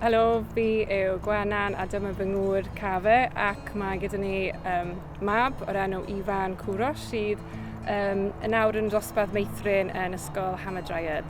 Helo, fi yw Gwenan a dyma fy ngŵr Cafe ac mae gyda ni um, mab o'r enw Ifan Cwros sydd um, yn awr yn dosbarth meithrin yn ysgol Hamadryad.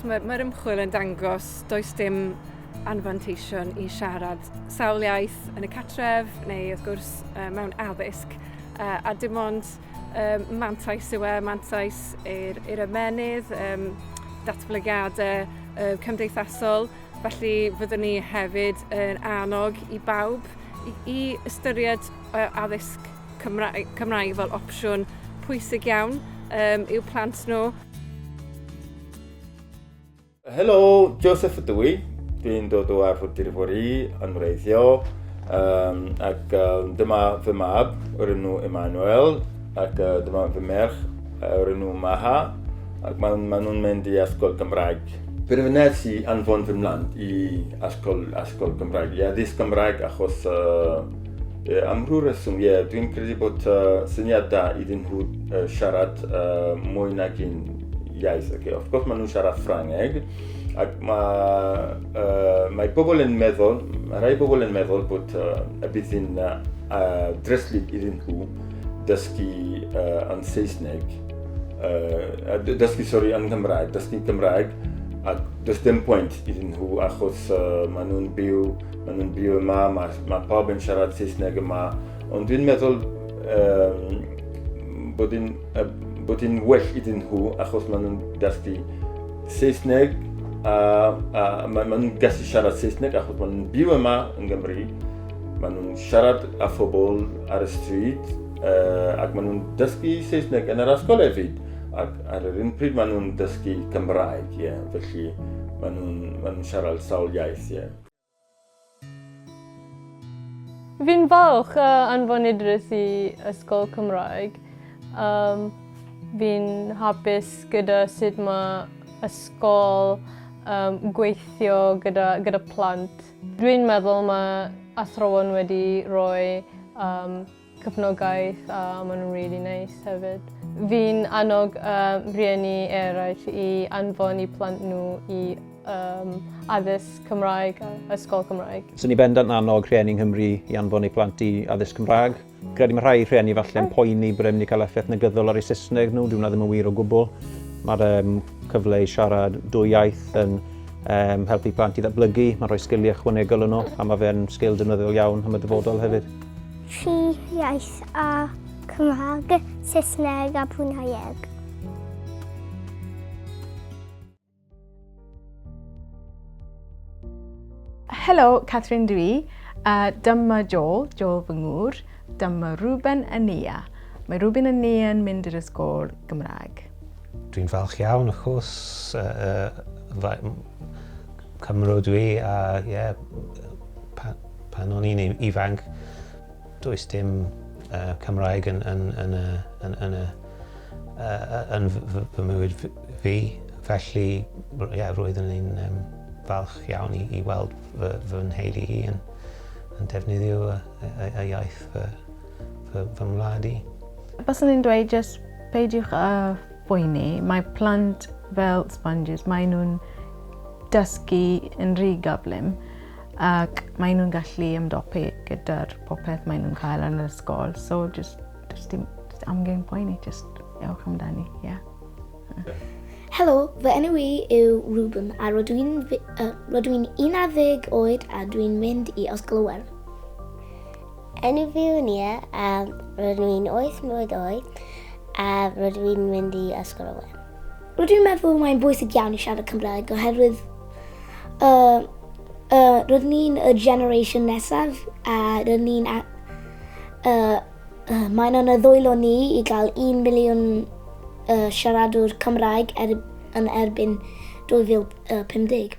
Mae'r mae ymchwil yn dangos does dim anfanteision i siarad sawl iaith yn y catref neu wrth gwrs mewn addysg a dim ond mantais yw e, mantais i'r, i'r ymenydd, um, datblygiadau uh, cymdeithasol, felly fyddwn ni hefyd yn annog i bawb i, i ystyried uh, addysg Cymraeg, Cymraeg fel opsiwn pwysig iawn um, i'w plant nhw. Helo, Joseph ydw i. Dwi'n dod o Arfordir Fori yn wreiddio um, ac um, dyma fy mab o'r enw Emmanuel ac uh, dyma fy merch o'r enw Maha ac maen ma nhw'n mynd i Ysgol Gymraeg. Penderfynes i anfon fy mlant i Ysgol, Ysgol Gymraeg, i addysg Gymraeg achos uh, am rhyw reswm, ie, yeah, dwi'n credu bod uh, syniad da iddyn nhw uh, siarad uh, mwy nag un iaith. Okay. Of course, maen nhw'n siarad Ffrangeg, ac mae, uh, mae pobl yn meddwl, mae rhai pobl yn meddwl bod uh, y bydd yn uh, dreslyd iddyn nhw dysgu uh, yn Saesneg, uh, dysgu, sori, yn Gymraeg, dysgu Gymraeg, ac does dim pwynt iddyn nhw achos uh, maen nhw'n byw, maen nhw'n byw yma, mae, ma pawb yn siarad Saesneg yma, ond dwi'n meddwl um, bod yn A bod yn well iddyn nhw achos maen nhw'n dysgu Saesneg a, a maen nhw'n gallu siarad Saesneg achos maen nhw'n byw yma yn Gymru. Maen nhw'n siarad â phobl ar y stryd uh, ac maen nhw'n dysgu Saesneg yn yr ysgol hefyd. Ac ar yr un pryd maen nhw'n dysgu Cymraeg, ie. Yeah. Felly maen nhw'n ma nhw siarad sawl iaith, ie. Yeah. Fi'n falch o anfon Idris i ysgol Cymraeg. Yym fi'n hapus gyda sut ma' ysgol yn gweithio gyda gyda plant. Dwi'n meddwl ma' athrawon wedi rhoi yym cefnogaeth a maen nhw'n rili neis hefyd. Fi'n annog um, rhieni eraill i anfon i plant nhw i um, addysg Cymraeg a ysgol Cymraeg. Swn i bendant yn annog rhieni yng Nghymru i anfon eu plant i addysg Cymraeg. Credu mae rhai rhieni falle'n poeni bod e'n mynd i cael effaith negyddol ar eu Saesneg nhw, dwi'n ddim yn wir o gwbl. Mae'r um, cyfle i siarad dwy iaith yn um, helpu plant i ddatblygu, mae'n rhoi sgiliau ychwanegol yno a mae fe'n sgil defnyddiol iawn am y dyfodol hefyd. Tri iaith a Cymraeg, Saesneg a Bruneieg. Helo, Catherine dw i. Uh, dyma Joel, Joel fy ngŵr. Dyma Ruben a Nia. Mae Ruben a Nia yn mynd i'r ysgol Gymraeg. Dwi'n falch iawn, of course. Uh, uh, Cymru dwi, a ie, yeah, Pan o'n i'n ifanc, does dim Cymraeg yn fy mywyd fi, felly ie, roeddwn i'n falch iawn i weld fy nheulu i yn defnyddio y iaith fy ngwlad i. Baswn i'n dweud jyst peidiwch â phoeni, mae plant fel sponges, maen nhw'n dysgu yn rhy gyflym. ac maen nhw'n gallu ymdopi gyda'r popeth maen nhw'n cael yn yr ysgol. So, just, just, just amgen poeni, just ewch amdani, ie. Yeah. Helo, fy enw i yw Ruben a rydw i'n uh, 11 oed a dwi'n mynd i Ysgol Iwerddon. Enw fi yw Nia a rydw i'n 8 mlynedd oed a rydw i'n mynd i Ysgol Iwerddon. Rydw i'n meddwl mae'n bwysig iawn i siarad Cymraeg oherwydd Y, y, roedd ni'n y generation nesaf a roedd ni'n... Y, y, mae'n yn y ddwylo ni i gael 1 miliwn y, siaradwr Cymraeg er, yn erbyn 2050.